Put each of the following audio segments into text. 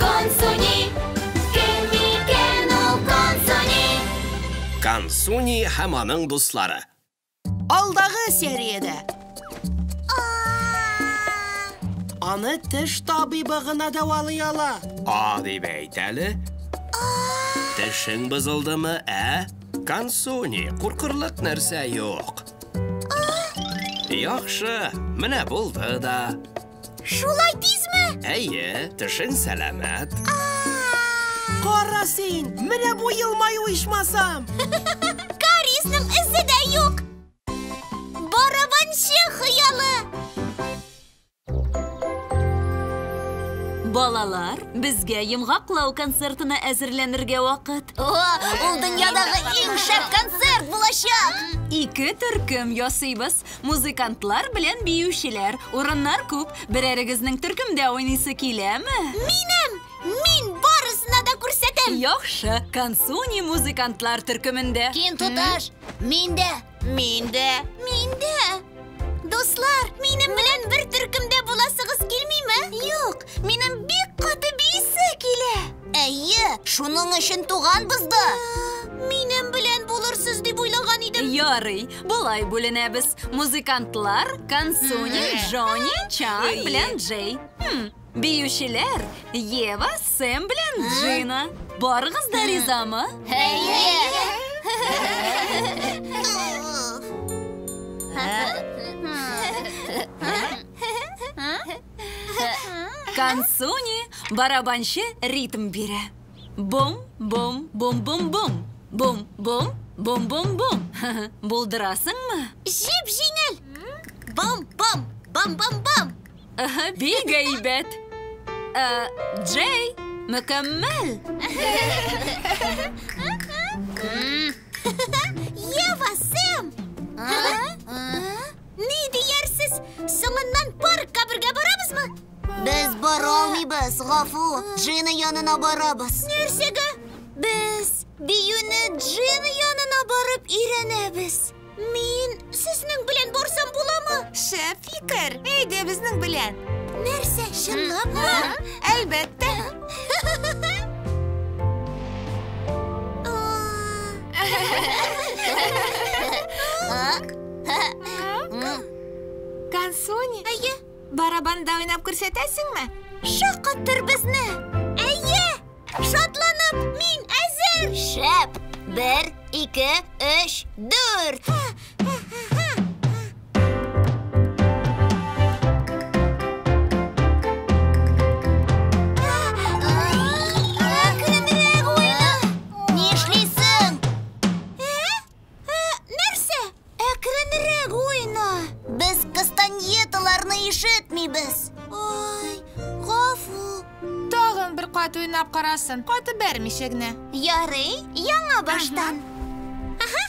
Консуни, кем микән ул Консуни? Консуни һәм аның дуслары. Алдагы сериядә. Аны теш табибы гына дәвалый ала. А дип әйт әле. Тешең бозылдымы, ә? Консуни, куркырлык нәрсә юк. Яхшы, менә булды да. Шулай тизме? Әйе, тешең сәламәт. Кара син, менә бу елмаю ичмасам. Кариесның эзе дә юк. Барабанчы хыялы. Балалар, безгә йомгаклау концертына әзерләнергә вакыт. О, ул дөньядагы иң шәп концерт булачак! Ике төркем ясыйбыз. Музыкантлар белән биючеләр, урыннар күп, берәрегезнең төркемдә уйныйсы киләме? Минем! Мин барысына да күрсәтәм! Яхшы, Кансуни музыкантлар төркемендә. Кин туташ, мин дә! Мин дә! Мин дә! Дуслар, минем белән бер төркемдә буласыгыз килмиме? Юк, Минем бик каты бийсе килә. Әйе, шуның өчен туганбыз да. Минем белән булырсыз дип уйлаган идем. Ярый, болай бүленәбез. Музыкантлар Кансуни, Джонни, Чан белән Джей. Хм, Биючеләр Ева, Сэм белән Джина. Барыгыз да ризамы? Әйе. Консуни барабанчы ритм бирә. Бум, бум, бум, бум, бум. Бум, бум, бум, бум, бум. Булдырасыңмы? Җеп җиңел. Бум, бум, бум, бум, бум. Бик әйбәт. Э, Джей, мөкәммәл. Ева, Сэм! Ни диярсез, соңыннан паркка бергә барабызмы? Без бара алмыйбыз, гафу. Джина янына барабыз. Нәрсәгә? Без биюне Джина янына барып өйрәнәбез. Мин сезнең белән барсам буламы? Шәп фикер. Әйдә безнең белән. Нәрсә, чынлапмы? Әлбәттә. А? Кансуни, әйе, барабанда уйнап күрсәтәсеңме? Шаккаттыр безне! Әйе! Шатланып, мин әзер! Шәп! Бер, ике, өч, дүрт! Ә, нәрсә? Әкренрәк уйна. Без кастаньеталарны ишетмибез. Ай, гафу. Тагын бер кат уйнап карасын, каты бәрмичә генә. Ярый, яңа баштан. Ага.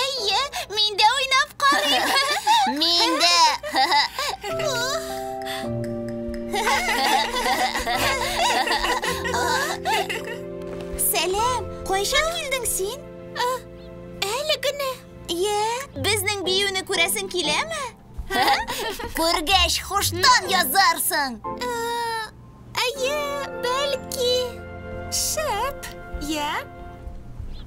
Әйе, мин дә уйнап карыйм. Мин дә. Сәлам, кайчан килдең син? Әле генә. Йә, безнең биюне күрәсең киләме? Күргәч, хуштан язарсың. Әйе, бәлки. Шәп, я.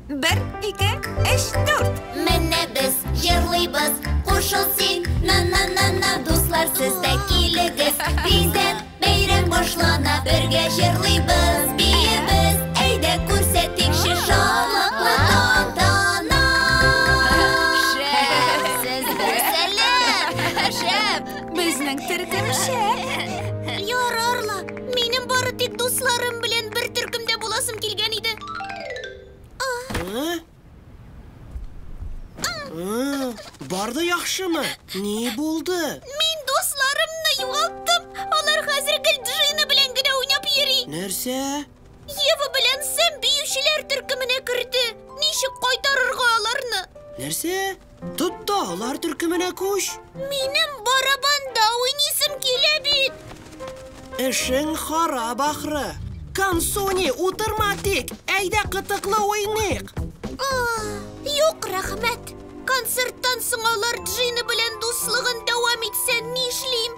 Бер, ике, өч, дүрт. Менә без җырлыйбыз, кушыл син. На-на-на-на, дуслар, сез дә килегез. Бизәк бәйрәм башлана, бергә җырлыйбыз, биебез. Әйдә күрсәтикче шатлыклы тантана. Шәп! Сез дә сәләм! Шәп! Безнең төркем шәп. Яр, Арла, минем бары тик дусларым белән бер төркемдә буласым килгән иде. Барды яхшымы? Ни булды? Мин дусларымны югалттым. Алар хәзер гел Джина белән генә уйнап йөри. Нәрсә? Ева белән Сэм биючеләр төркеменә керде. Ничек кайтарырга аларны? Нәрсә? Тот та алар төркеменә күч. Минем барабанда уйнисым килә бит. Эшең харап ахры. Кансуни, утырма тик. Әйдә кытыклы уйныйк. Юк, рәхмәт. Концерттан соң алар Джина белән дуслыгын дәвам итсә нишлим?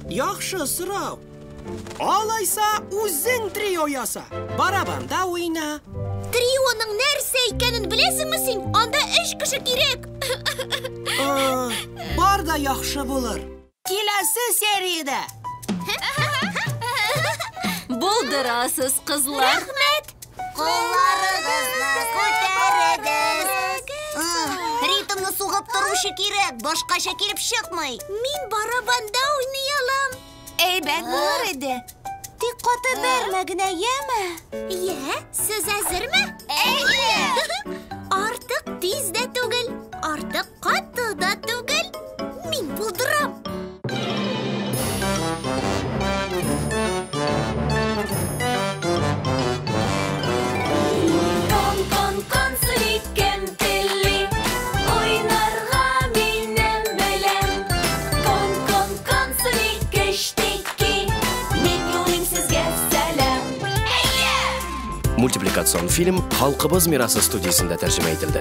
Яхшы сорау. Алайса, үзең трио яса. Барабанда уйна. Трионың нәрсә икәнен беләсеңме син? Анда өч кеше кирәк. Бар да яхшы булыр. Киләсе сериядә. Булдырасыз, кызлар. Рәхмәт. Кулларыгызны күтәрегез. Ритмны сугып торучы кирәк, башкача килеп чыкмый. Мин барабанда уйный алам. Әйбәт булыр иде. Тик каты бәрмә генә, яме? Йә, сез әзерме? Әйе! Артык тиз дә түгел, артык каты да түгел. Мин булдырам. Мультипликацион фильм Халкыбыз мирасы студиясендә тәрҗемә ителде.